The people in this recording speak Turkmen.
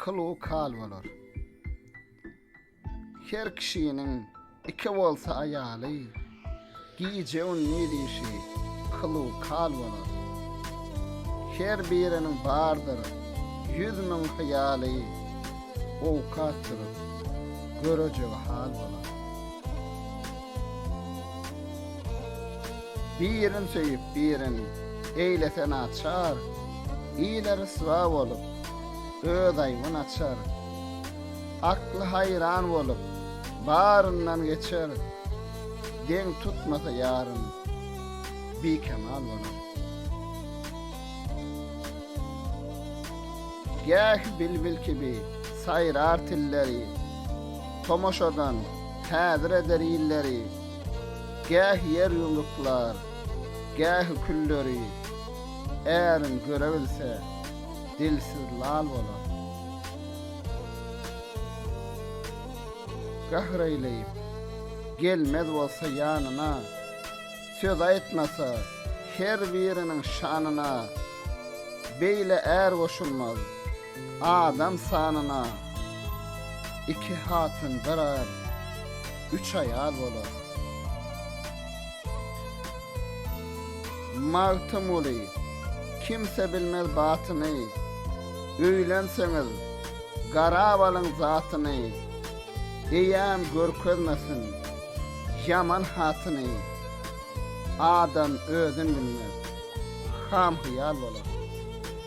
Kyl-u kal bolar. Her kişiniň iki bolsa aýaly, gije-gündiz işi kyl-u kal bolar. Her biriniň bardyr ýüz müň hyýaly, owkat durup, görejegi hal bolar. Birin söýüp birin eýlese naçar, Ile ryswa bolup, öz aýbyn açar. Akly haýran bolup, baryndan geçer, Deň tutmasa ýaryn, bikemal bolar. Gähi bilbil kibi saýrar tilleri, Tomaşadan häzir eder illeri. Gähi ýer ýumruklar, gähi külleri Ärin görebilse, dilsiz lal bolar. Gahr eýleýip, gelmez bolsa ýanyna, Söz aýtmasa, her biriniň şanyna, Beýle är goşulmaz, Adam sanyna iki hatyn bir gyz, üç aýal bolar. Magtymguly, Kimse bilmez batyny, Öýlenseňiz, garap alyň zatyny, Eýäm görkezmesin, ýaman hatyny, Adam özün bilmez, ham-hyýal bolar.